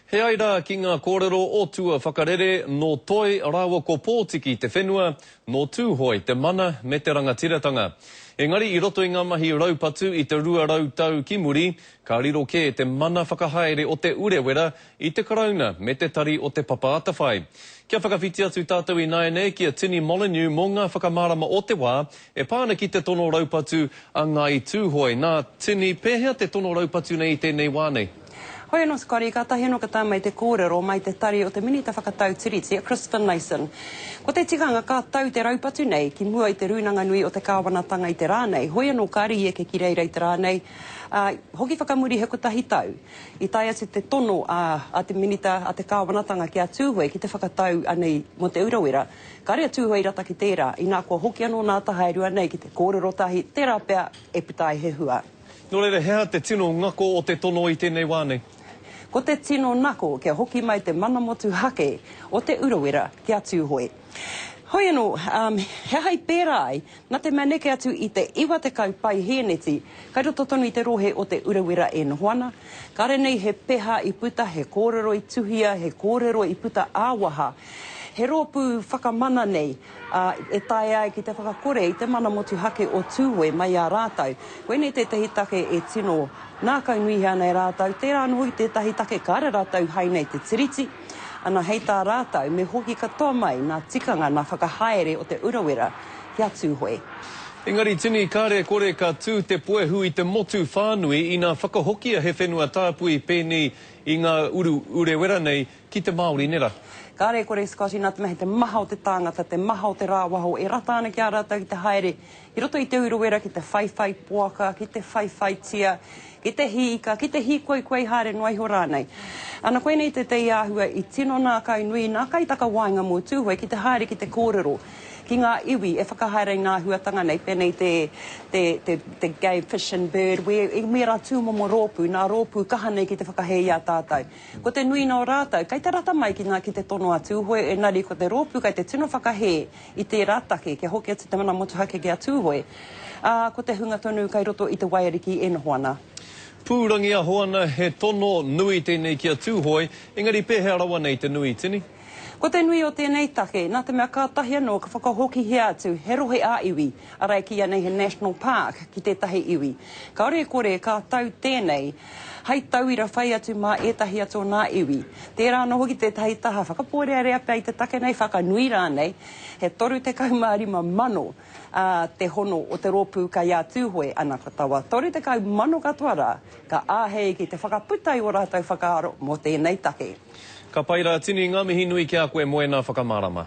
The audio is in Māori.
He ai rā ki ngā kōrero o Tua Whakarere, nō Toi rāua ko Pōtiki te whenua, nō Tūhoe te mana me te rangatiratanga. Engari i roto i ngā mahi raupatu i te rua rau tau ki muri, ka riro kē te mana whakahaere o Te Urewera i te Karauna me te tari o Te Papa Atawhai. Kia whakawhiti atu tātou ināianei ki a Tini Molyneux mō ngā whakamārama o te wā e pā ana ki te tono raupatu a Ngāi Tūhoe. Nā Tini, pēhea te tono raupatu nei i tēnei wā nei? Hoi anō te kari, kātahi anō ka tae mai te kōrero mai te tari o te Minita Whakatau Tiriti, a Chris Finlayson. Ko te tikanga ka tau te raupatu nei ki mua i te rūnanga nui o te kāwanatanga i te rā nei. Hoi anō kāre i eke ki reira i te rā nei, ā, hoki whakamuri he kotahi tau, i tae atu te tono a te Minita a te Kāwanatanga ki a Tūhoe ki te whakatau anei mō Te Urawera. Kāre a Tūhoe i rata ki tērā, inā kua hoki anō nā Tahaerua nei ki te kōrero tahi, tērā pea e puta ai he hua. Nō reira, he aha te tino ngako o te tono i tēnei wā nei? Ko te tino nako kia hoki mai te mana motuhake o Te Urawera ki a Tūhoe. Hoi anō, he aha i pērā ai? Nā te mea neke atu i te 90 paihēneti kai roto tonu i te rohe o Te Urawera e noho ana, kāre nei he peha i puta, he kōrero i tuhia, he kōrero i puta ā-waha, he rōpū whakamana nei. ā, e taea ai ki te whakakore i te mana motuhake o Tūhoe mai i a rātou. Koinei tētahi take e tino ngākaunuihia ana e rātou, tērā anō hoki tētahi take ka ara rātou hai nei te Tiriti, ana hei tā rātou me hoki katoa mai ngā tikanga, ngā whakahaere o Te Urawera ki a Tūhoe. Engari tini kare kore ka tū te puehu i te motu whānui ina whakahokia he whenua tāpui pēnei i ngā Uru Urewera nei Ki te Māori nera. Kāre e kore e Scotty nā te mea he te maha o te tāngata, te maha o te rāwaho e rata ana ki a rātou ki te haere ki roto i Te Urewera ki te whaiwhai poaka, ki te whaiwhaitia, ki te hī ika, ki te hī koikoi haere noa iho rānei. Ana koinei tētehi āhua i tino nākainui, nākaitakawaenga mō Tūhoe ki te haere ki te kōrero ki ngā iwi e whakahaere i ngā āhuatanga nei, pēnei te, te, te, te game, fish and bird, where, i mērā tūmomo rōpū, nā rōpū kaha nei ki te whakahē i a tātou. Ko te nui nō rātou, kei te rata mai ki ngā ki te tono a Tūhoe, ēngari ko te rōpū kei te tino whakahē i tērā take kia hoki atu te mana motuhake ki a Tūhoe, ā, ko te hunga tonu kei roto i te waiariki e noho ana. Pūrangiaho ana he tono nui tēnei ki a Tūhoe, ēngari pēhea rawa nei te nui, Tini? Ko te nui o tēnei take, nā te mea kātahi anō ka whakahokihia atu he rohe ā-iwi, arā e kī ana he national park, ki tētahi iwi. Kāore e kore ka tau tēnei hei tauira whai atu mā ētahi atu o nā iwi. Tērā anō hoki tētahi taha whakapōrearea pea i te take nei, whakanui rānei, he 35 mano te hono o te rōpū kai ā Tūhoe, ana ka tawa, 30 mano katoa rā, Ka āhei ki te whakaputa i o rātou whakaaro mō tēnei take. Ka pai rā, tini ngā mihi nui ki a koe moena whakamārama.